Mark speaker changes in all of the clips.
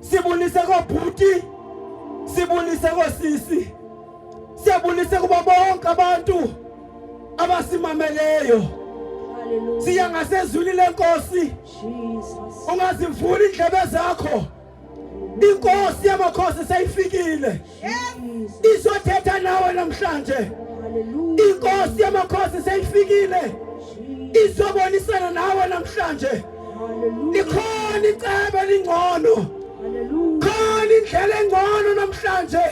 Speaker 1: Sibulise kobhuti, sibulise kosisi, siyabulise kubo bonke abantu abasimameleyo. Siya ngasezwini lenkosi. Ungazivuli indlebe zakho. Inkosi yamakhosi seyifikile. izothetha nawe namhlanje inkosi yamakhosi seyifikile izobonisana nawe namhlanje likhona icebo elingcono khona indlela engcono namhlanje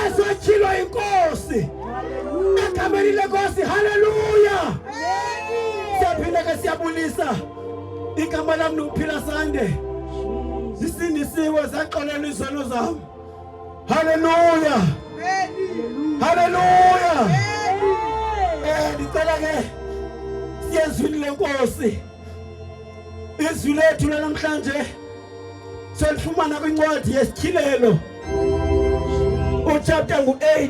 Speaker 1: ezotyhilwa inkosi egameni lenkosi haleluya siyaphinde ke siyabulisa igama lami nokuphila sande zisindisiwe zaxolela izono zami haleluya haleluya eh ndicela ke siyezwini lenkosi izwi lethu lanamhlanje solifumana kwincwadi yesityhilelo uchapter ngu-80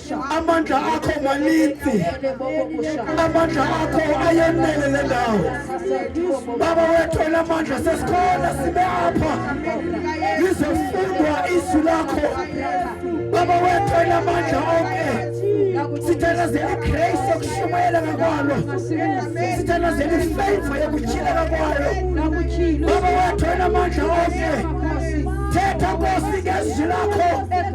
Speaker 1: amandla akho maninzi amandla akho ayenele le ndawo baba wethu elamandla sesikhona sibe apha lizofundwa izwi lakho baba wethu elamandla onke sithanda zeligrace yokushumayela ngakwalo sithanda zelifavor yokutyhileka kwayo baba wethu elamandla onke thetha nkosi ngezwi lakho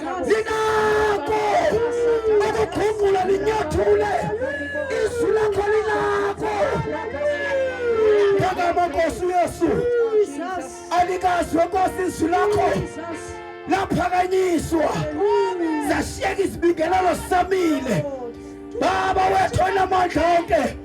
Speaker 1: linako ukuphungula linyathule izwi lakho linako ngagama nkosi uyesu alikazwe nkosi izwi lakho laphakanyiswa zashiyeka izibingelelo samile baba wethu onamandla onke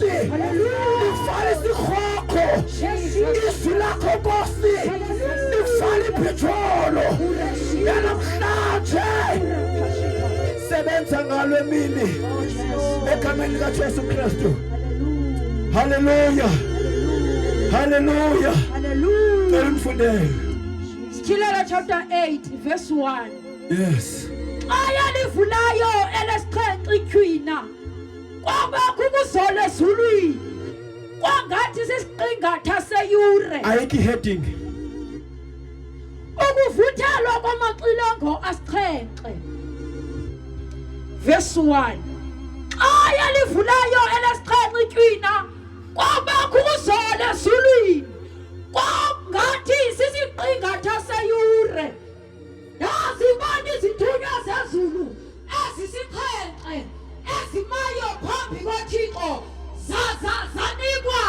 Speaker 1: Nifale sikhokho izwi lakho Nkosi nifale iphijolo yanamhlanje sebenza ngalo emini egameni likaJesu Kristu haleluya haleluya cela umfundele Sityhilelo
Speaker 2: chapter 8 verse 1 yes
Speaker 1: xa yalivulayo
Speaker 2: elesixhenxe ityhwina kwabakho ukuzola ezulwini kwangathi sisiqingatha seyure ayikho i-heading ukuvuthelwa kwamaxilongo asixhenxe verse 1 xa yalivulayo elesixhenxe itywina kwabakho ukuzola ezulwini kwangathi sisiqingatha seyure Nazibani izithunywa zezulu ezisixhenxe ezimayo phambi koThixo zaza zanikwa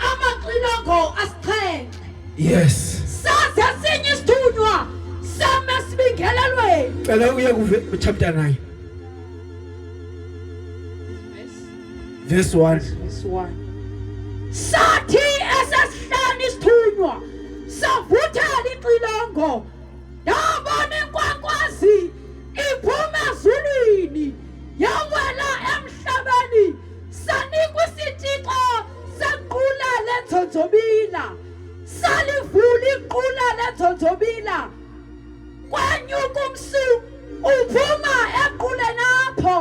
Speaker 2: amaxilongo asixhenxe. Yes.
Speaker 1: Saze sinye
Speaker 2: isithunywa same sibingelelweni. Cela uye kuve
Speaker 1: chapter 9. This one. This one.
Speaker 2: Sathi esesihlanu isithunywa savuthela ixilongo ndabona inkwankwazi iphuma ezulwini yawela emhlabeni sanikwa isitixo sequla lendzonzobila salivula iqula lendzonzobila kwanyuka umsu uphuma equleni apho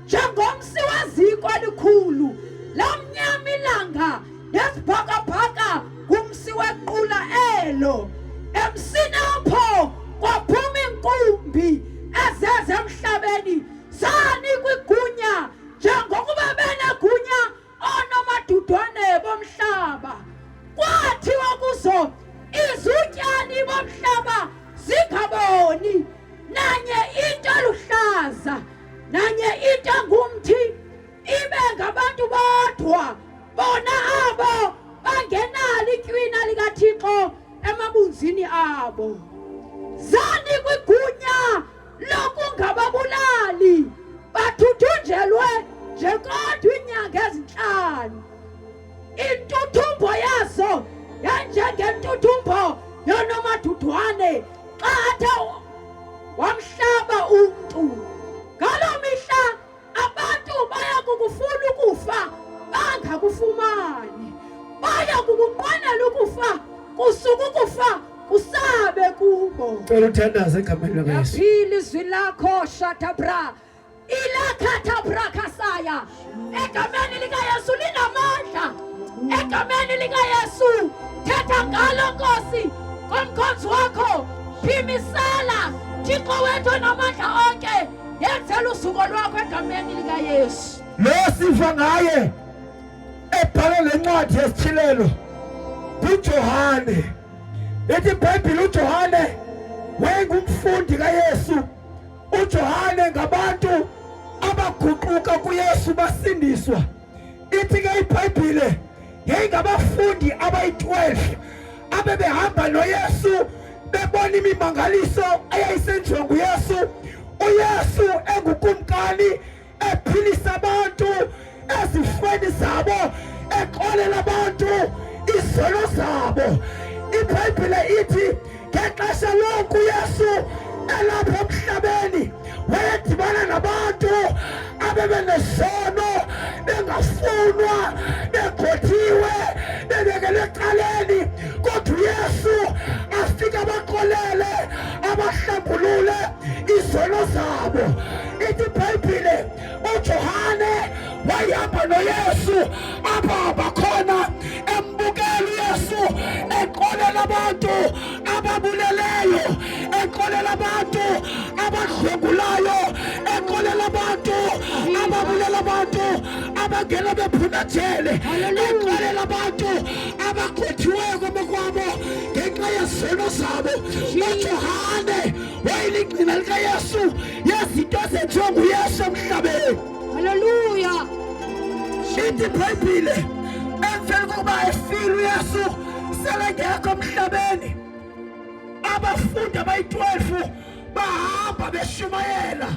Speaker 2: njengomsi weziko elikhulu lamnyama ilanga nezibhakabhaka kumsi wequla elo emsini apho kwaphuma inkumbi ezeze emhlabeni sanikwa igunya njengokuba benegunya oonomadudwane bomhlaba kwathiwa kuzo izutyani bomhlaba zingaboni nanye into eluhlaza nanye into engumthi ibe ngabantu bodwa bona abo bangenalo itywina likathixo emabunzini abo zani kwigunya lokungababulali bathuthunjelwe nje kodwa iinyanga ezintlanu intuthumbo yazo yanjengentuthumbo yonomadudwane xa athe wamhlaba umntu ngaloo mihla Abantu baya kukufuna ukufa bangakufumani, baya kukuqwanela ukufa kusuka ukufa kusabe kubo. Cela uthandaze
Speaker 1: egameni likaYesu. Yaphila izwi lakho
Speaker 2: shatabra ilakhatha brakasaya egameni likaYesu linamandla egameni likaYesu thetha ngalo Nkosi komkhonzi wakho phimisela Thixo wethu namandla onke Yenzela usuko lwakho egameni likaYesu. Lo siva
Speaker 1: ngaye ebhala le ncwadi yesithilelo nguJohane. Ithi iBhayibhile uJohane wayengumfundi kaYesu. UJohane ngabantu abaguquka kuYesu basindiswa. ithi ke ibhayibhile yayingabafundi abayi-12 abebehamba noyesu bebona imimangaliso eyayisenziwa nguyesu uyesu engukumkani ephilisa abantu ezifweni zabo exolela abantu izono zabo ibhayibhile ithi ngexesha loku yesu elapha emhlabeni wayedibana nabantu abebenesono bengafunwa begothiwe bebekele ecaleni kodwa uyesu afike abaxolele abahlambulule izono zabo ithi ibhayibhile uJohane wayihamba noYesu apha abakhona embukela uYesu eqolela abantu ababuleleyo eqolela abantu abadlwengulayo eqolela abantu ababulela abantu abangena bephuma ejele eqolela abantu abakhuthiweyo kwamakwabo ngenxa yezono zabo noJohane wayeligcina likayesu yezinto ezenziwa nguyesu emhlabeni haleluya ithi ibhayibhile emveni kokuba efile uyesu selengekho emhlabeni abafundi abayi-12 bahamba beshumayela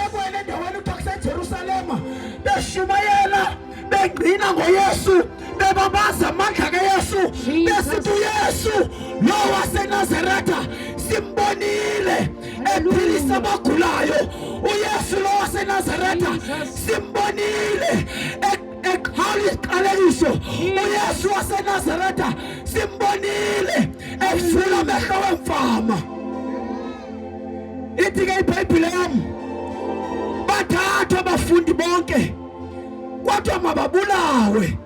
Speaker 1: ekwele ndaweni kuthiwa kusejerusalema beshumayela bengqina ngoyesu bebabaza amandla kayesu besithi uyesu lo wasenazaretha simbonile ephilisa abagulayo uyesu lo wasenazaretha simbonile eqhala iziqalekiso uyesu wasenazaretha simbonile evula amehlo wemfama Ithi ke iBhayibhile yam bathathwa abafundi bonke kwathiwa mababulawe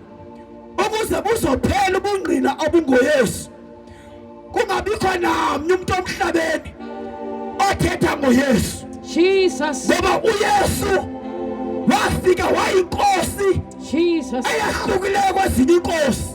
Speaker 1: ukuze buzophela ubungqina obungoyesu kungabikho namnye umntu omhlabeni othetha ngoyesu jesus ngoba
Speaker 2: uyesu
Speaker 1: wafika wayinkosi eyahlukileyo kwezinye inkosi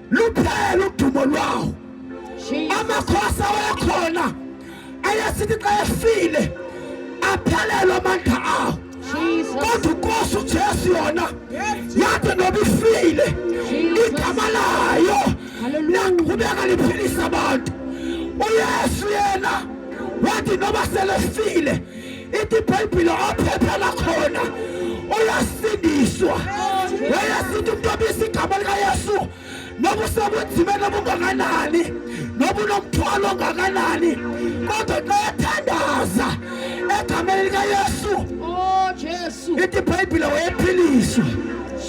Speaker 1: luphele udumo lwawo amakhosi awayekhona ayesithi xa efile aphelelwe amandla awo kodwa ukosi ujesu yona yathi noba ifile igama layo naqhubeka liphilisa abantu uyesu yena wathi noba selefile Ithi iBhayibhile ophepha lakhona uyasindiswa. Wayesithi umuntu obisa igama likaYesu noba usekunzima noba ungakanani noba unomthwalo ongakanani kodwa xa ethandaza egameni likaYesu oh Jesu ithi iBhayibhile wayephiliswa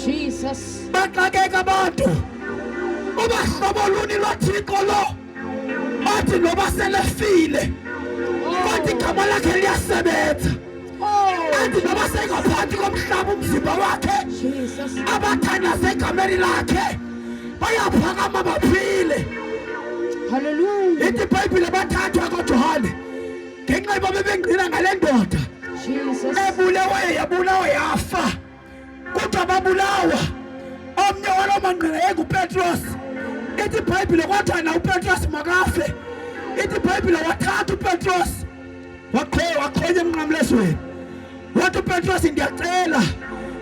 Speaker 1: Jesus baxakeka abantu ubahlobo luni lwathixo lo athi noba selefile kodwa igama lakhe liyasebenza athi noba sengaphansi komhlaba umzimba wakhe abathandaze egameni lakhe bayaphakama baphile
Speaker 2: haleluya ithi ibhayibhile
Speaker 1: bathathwa kojohane ngenxa yoba bebengqina ngale ndoda ebuleweyo yabulawa yafa kodwa babulawa omnye waloo mangqina yayingupetros ithi ibhayibhile kwathana upetros makafe ithi ibhayibhile wathatha upetros wakhonya emnqamlezweni wathi upetros ndiyacela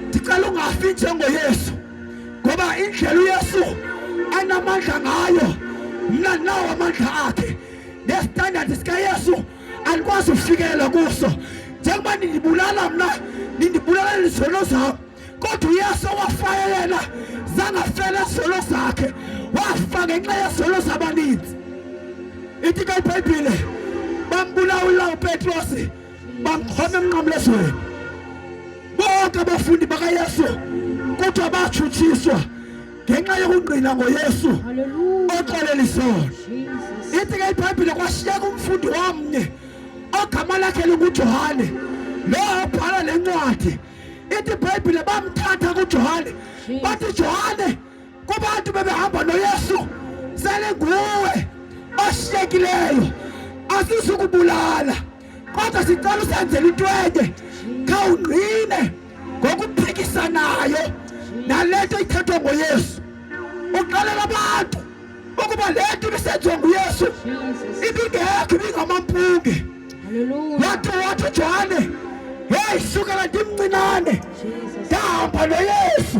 Speaker 1: ndicela ungafi njengoyesu ngoba indlela uyesu anamandla ngayo mna ndinawo amandla akhe nestandard sikayesu anikwazi ukufikelela kuso njengoba nindibulala mna nindibulala izizono zam kodwa uyesu owafayo yena zangafela izizono zakhe wafa ngenxa yezizono zabaninzi ithi ke ibhayibhile bambulawula upetrosi bamkhona emnqamlezweni bonke abafundi bakayesu kodwa batshutshiswa ngenxa yokungqina ngoyesu oxelela isono ithi ke ibhayibhile kwashiyeka umfundi wamnye ogama lakhe lingujohane lo obhala le ncwadi ithi ibhayibhile bamthatha kujohane bathi johane kubantu bebehamba noyesu selinguwe oshiyekileyo asizukubulala kodwa sicela usenzela intwenye khawungqine ngokuphikisanayo nale nto ithethwa ngoyesu uxelela abantu ukuba le nto ibisenziwa nguyesu ibingekho ibingamampunge wathi wathi ujohane heyi sukela ndimncinane ndahamba noyesu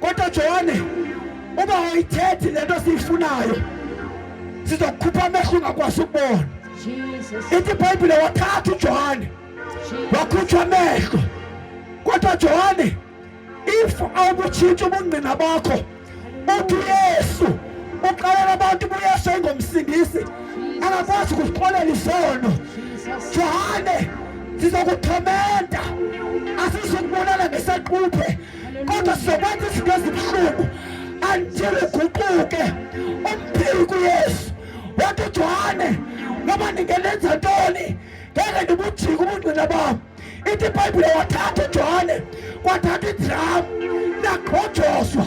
Speaker 1: Kodwa Johane, uba ayithethi le nto siyifunayo sizokukhupha amehlo ungakwazi ukubona. Ithi iBhayibhile wathatha uJohane wakhutshwa amehlo. Kodwa Johane, if awubutshintsha ubungqina bakho uthi uYesu uxelela abantu ubuYesu engomsindisi angakwazi ukuzixolela isono. Johane, sizokuthomenta asizukubonana ngesaquphe kodwa sokwenza izinto ezibuhlungu until uguquke umphili kuyesu wathi ujohane noba ndingenenza ntoni ngeke ndibujike ubungqina bam ithi ibhayibhile wathatha ujohane kwathatha idramu nagqojoswa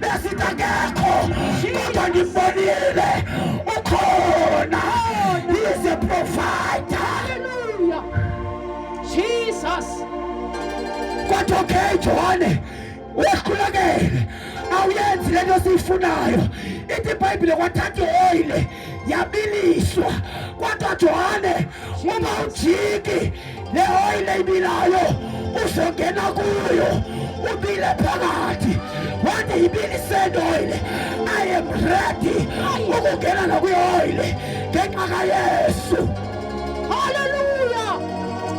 Speaker 1: besitangekho kodwa ndibonile ukhona is a provider haleluya jesus kodwa okay johane uyakhulekele awuyenzi le nto siyifunayo ithi ibhayibhile kwathatha ioyile yabiliswa kodwa johane uma ujiki le oyile ibilayo uzongena kuyo ubile phakathi wathi yibiliseni oyile i am ready ukungena nakuyo oyile ngenxa kayesu haleluya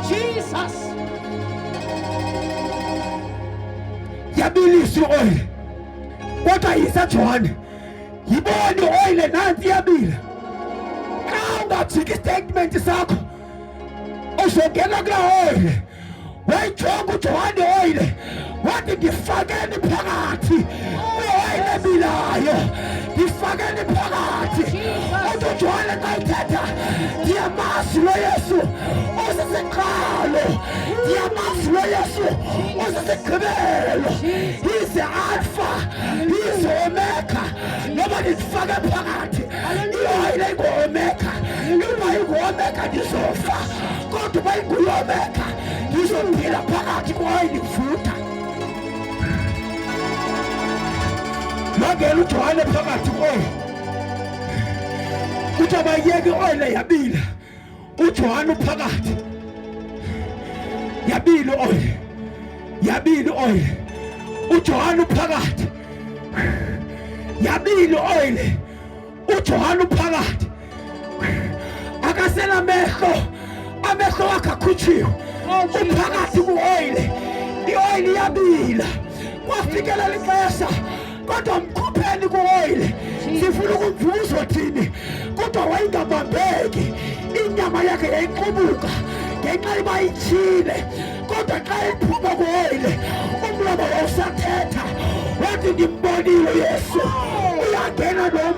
Speaker 1: jesus yabiliswa oyile kodwa yisajohane yibodo oyile nanti iyabile xa ungajiki istatimenti sakho uzongena kula oyile wayijonga ujohane oyile wathi ndifakeni phakathi kwiwayini ebilayo ndifakeni phakathi uthi ujohane xa ithetha ndiyamazi lo yesu usisiqalo ndiyamazi lo yesu usisigqibelo izomeka noba ndizifake phakathi iyoyile ingomeka noba ingomeka ndizofa kodwa uba inguyomeka ndizophila phakathi kwayo ndivutha wangena ujohane phakathi kwayo kuthi abayeke oyile yabila uJohane uphakathi yabili oyi yabili oyi uJohane uphakathi yabili oyi uJohane uphakathi akasela mehlo amehlo wakhe akhutshiwe uphakathi kuoyile ioyile yabila kwafikelela ixesha kodwa mkhupheni kuoyile sifuna ukumvuka uzothini kodwa wayengabambeki inyama yakhe yayiqubuka ngenxa iba itshile kodwa xa iphuma kuoyile umlomo wawusathetha wathi ndimbonile uyesu uyangena lo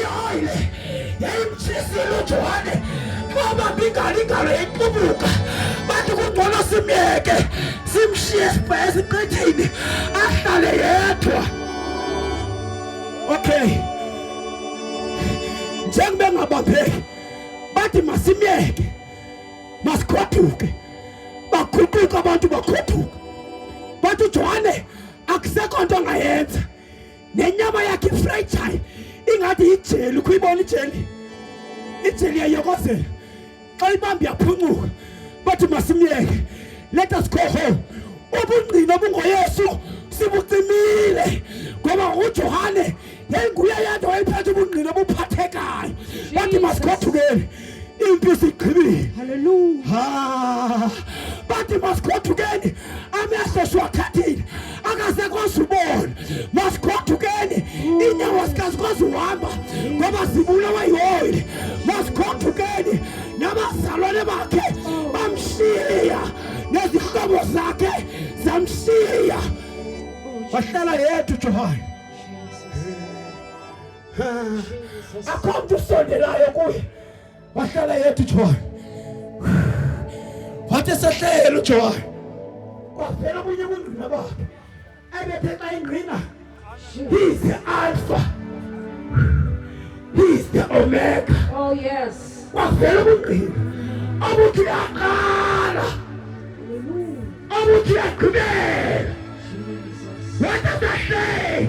Speaker 1: yoile yayimtshisilujohane ngoba mbingalingalo yayiqubuka bathi kungcono simyeke simshiye sibhaya esiqithini ahlale yedwa okay njengoba engabambeki bathi masimyeke masikhoduke baguquka abantu bakhothuka bathi uJohane akusekho nto angayenza nenyama yakhe ifrayijhayi ingathi yijeli ukho ibona ijeli ijeli yayokozela xa ibambi yaphuncuka bathi masimyeke let us go home ubungqina obungoyesu sibucimile ngoba ujohane yayinguye yedwa wayephethe ubungqina obuphathekayo bathi masigothukeni impi sigqibile haleluya
Speaker 2: bathi
Speaker 1: masigodukeni amehlo siwathathile akasekwazi ubona masigodukeni mm. iinyawo sikazikwazi uhamba ngoba zibulawa yioyile masigodukeni nabazalwane bakhe oh. bamshiya nezihlobo zakhe zamshiya oh, wahlala yedwa ujohane akho mntu usondelayo kuye wahlala yedwa ujohane wathi esehlele ujohane kwavela omunye kungqina bakhe ebethe xa ingqina he is the alpha he is the omega oh yes
Speaker 2: kwavela ubungqina
Speaker 1: obuthi uyaqala obuthi uyagqibela wathi asahlele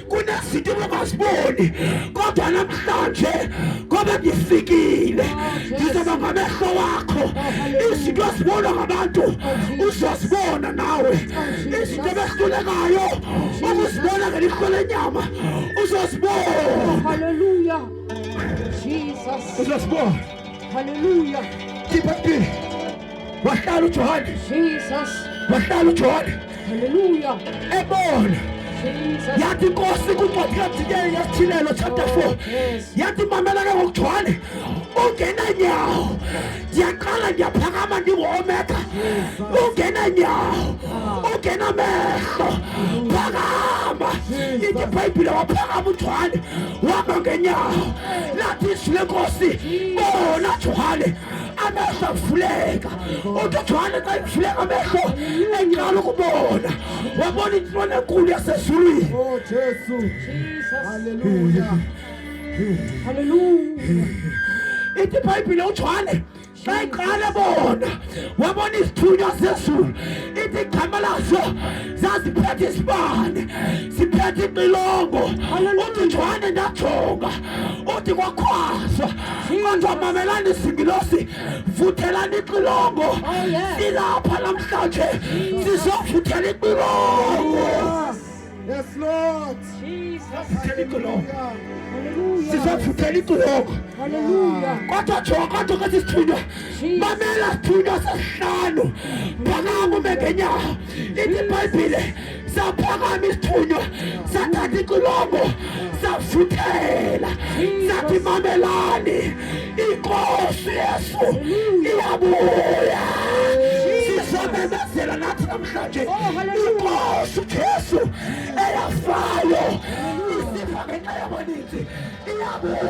Speaker 1: kunezinto ebengaziboni kodwa namhlanje ngoba ndifikile ndizoba ngamehlo wakho izinto ezibona ngabantu uzozibona nawe izinto ebehlulekayo ukuzibona ngelihlo lenyama uzozibona
Speaker 2: uzozibona khipha
Speaker 1: mpini wahlala uJohane Jesus
Speaker 2: wahlala uJohane
Speaker 1: haleluya
Speaker 2: ebona yathi inkosi
Speaker 1: kuncwadi kadikeli yesithilelo chapter 4 yathi mamela ke ngokujwane ungena nyawo ndiyaqala ndiyaphakama ndingoomeka ungena nyawo ungena mehlo phakama ithi ibhayibhile waphakama ujwane wama ngenyawo lathi izwi lenkosi bona jwane amehlo avuleka uthi ujohane xa evuleka amehlo eqala ukubona wabona intlona enkulu yasezulwini
Speaker 3: oh,
Speaker 2: ithi
Speaker 1: ibhayibhile ujohane xa iqala bona wabona isithunywa sezulu ithi igama laso zaziphethe isibane siphethe imilongo uthi njwane ndajonga uthi kwakhwaswa kodwa mamelani singilosi vuthelani ixilongo oh, silapha namhlanje sizovuthela ixilongo
Speaker 2: Yes,
Speaker 1: Lord.
Speaker 2: Jesus. sizovuthela
Speaker 1: iciloko
Speaker 2: kodwa jonga kodwa
Speaker 1: kwesi sithunywa mamela sithunywa sesihlanu phakama ume ngenyawo Lithi iBhayibhile saphakama isithunywa sathatha icilongo safuthela sathi mamelani inkosi yesu iyabuya sizomemezela nathi namhlanje inkosi ujesu eyafayo isifa ngenxa yabaninzi iyabuya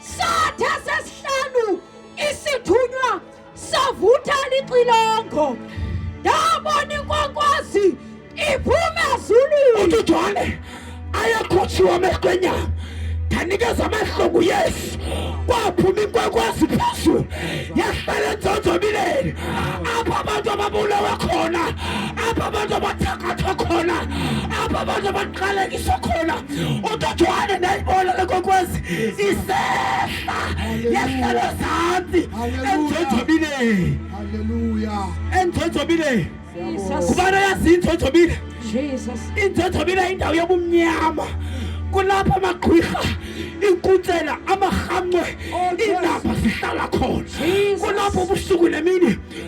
Speaker 2: Sathe sesihlanu isithunywa savutha lixilongo ndabona inkwankwazi iphume ezulwini uthi ujohane
Speaker 1: ayekhutshiwe amehlo enyama ndanikeza amahlungu yesu kwaphuma inkwenkwazi phezulu yahlala enzonzobileni apho abantu ababulawe khona apho abantu abathakathwa khona apho abantu abaqalekiswa khona utothwane ndayibona lekokwazi isehla yehlelo zantsi endzonzobile
Speaker 3: endzonzobile
Speaker 1: kubana
Speaker 2: yazi
Speaker 1: indzonzobile
Speaker 2: indzonzobile indawo
Speaker 1: yobumnyama kulapho amagqwirha inkutsela amarhamncwe oh, iindaba zihlala khona kulapho ubusuku nemini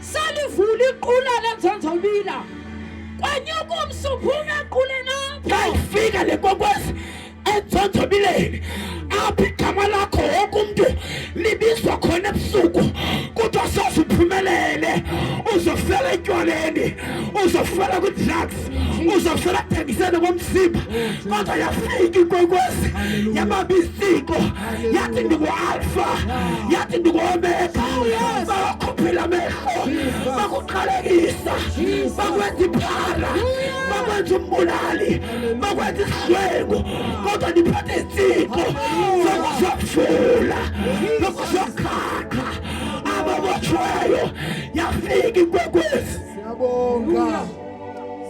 Speaker 2: salivula iqula lenzonzobila kwanyuka umsuphuna equleni apho yayifika le
Speaker 1: kwekwezi enzonzobileni apho igama lakho wonke umntu libizwa khona ebusuku kuthiwa soze uphumelele uzofela etywaleni uzofela kwi-drugs uzofela ekuthengiseni komzimba kodwa yafika ikwekwezi yabamba iziko yathi ndingualfa yathi ndinguomeka bakukhuphela amehlo bakuqalekisa bakwenza iphara bakwenza umbulali bakwenza isidlwengu kodwa ndiphathe izitshixo zokuzofula zokuzokhaqa ababotshweyo yafika inkwekwezi siyabonga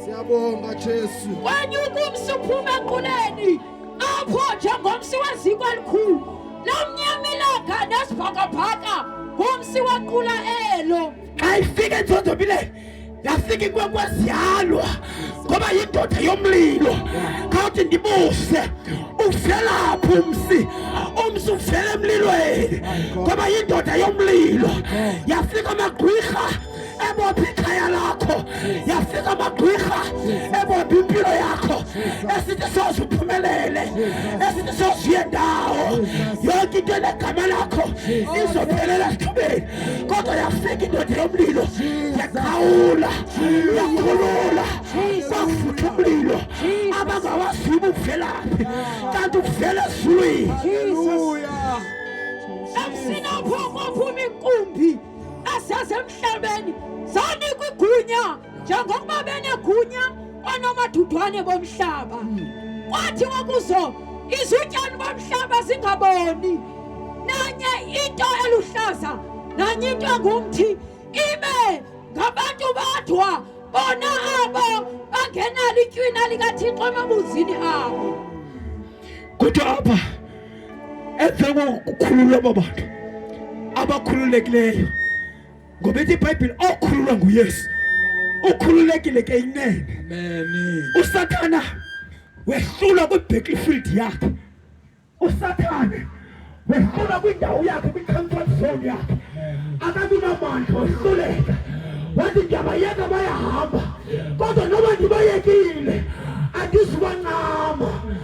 Speaker 3: siyabonga jesu wanyuka umsuphu
Speaker 2: emaquleni apho njengomsi weziko elikhulu lomnyamelanga nesibhakabhaka ngumsi waqula elo xa ifika
Speaker 1: enzonzobile yafika inkwenkwazi yalwa ngoba yindoda yomlilo khawuthi ndibuse uvelaphi umsi umsi uvela emlilweni ngoba yindoda yomlilo yafika amagqwirha ebopha ikhaya lakho yafika amagwirha ebopha impilo yakho esithi soze uphumelele esithi soze uye ndawo yonke into enegama lakho izophelela esithubeni kodwa yafika indoda yomlilo yakhawula yakhulula kwakufutha umlilo abangawaziyo ubuvelaphi kanti uvela ezulwini
Speaker 3: emsinaphoko
Speaker 2: phuma inkumbi asasemhlabeni zanikwa igunya njengokuba benegunya onomathudwane bomhlaba kwathi wakuzo izityani bomhlaba zingaboni nanye into eluhlaza nanye into engumthi ibe ngabantu badwa bona abo bangenalo itywina likathixo emabuzini abo
Speaker 1: kodwa apha emva kokukhululwa aba bantu abakhululekileyo ngoba ithi ibhayibhile okhululwa nguyesu ukhululekile ke inene usathana wehlulwa kwi-battlefield yakhe usathane wehlulwa kwindawo yakhe kwi-comfort zone yakhe akabinamandla wehluleka wathi ndiyabayeka bayahamba kodwa noba ndibayekile andizubancama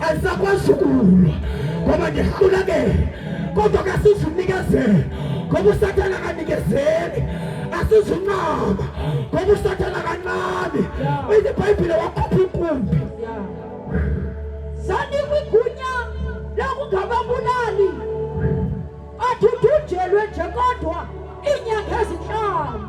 Speaker 1: asakwazi ukulwa ngoba ndihlulekele kodwa ke asizunikezele ngoba usathana akanikezeli asizuncama ngoba usathana kancane uyibhayibhile wakhupha inkumbi
Speaker 2: sanikwa igunya lokungababulali athunthunjelwe nje kodwa iinyanga ezintlanu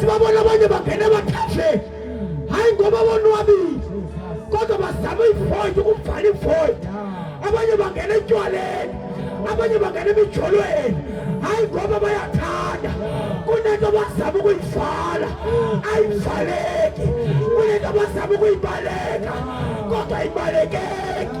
Speaker 1: sibabona abanye bangena bathathe hayi ngoba bonwabile kodwa bazama ivoid ukuvala ivoid abanye bangena etywaleni abanye bangena emijolweni hayi ngoba bayathanda kunento bazama ukuyivala ayivaleki kunento bazama ukuyibaleka kodwa ayibalekeki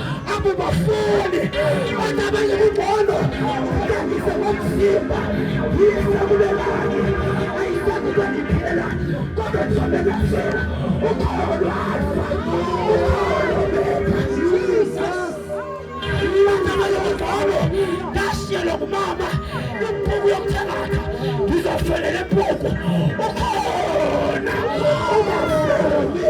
Speaker 1: akubafuni abantu abanye kubono ndandise ngomzimba yisakulelani ayisakuba ndiphela kodwa ndizobelezela ukholo lwafa ukholo betha jesus abantu abanye kubono ndashiyelwa ngumama impuku yomthangatha ndizofelele mpuku ukhona ubafuni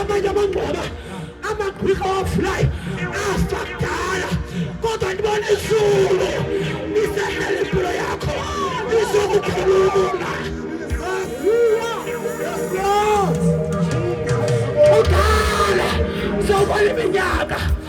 Speaker 1: amanye amangoma amagqwirha wavulayo afa kudala kodwa ndibona izulu lisehlela impilo yakho lizokukhulula kudala sowubona iminyaka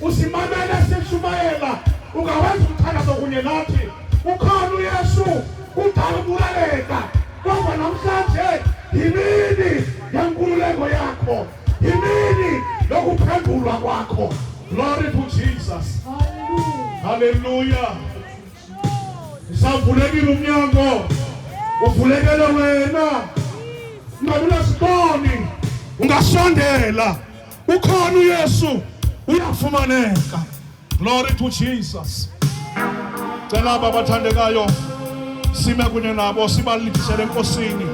Speaker 4: usimamele sishumayela ungawenza umthandazo kunye nathi ukhona uyesu kudala ukulaleka kodwa namhlanje yimini yenkululeko yakho yimini lokuphendulwa kwakho glory to jesus halleluya usavulekile umnyango uvulekele wena ungabi nasiboni ungasondela Ukhona uYesu uyafumaneka. Glory to Jesus. Cela aba bathandekayo sime kunye nabo sibalibisele enkosini.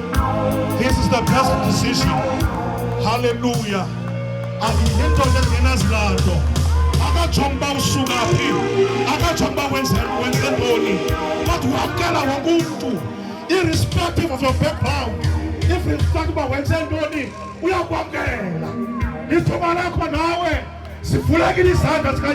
Speaker 4: This is the best decision. Hallelujah. Ayinto engenazilando. Akajongi uba usuka phi. Akajongi uba wenze wenze ntoni. Kodwa wamkela wonke umntu irrespective of your background. Irrespective uba wenze ntoni. uyakwamkela ithuba lakho nawe sivulekile izandla zikaye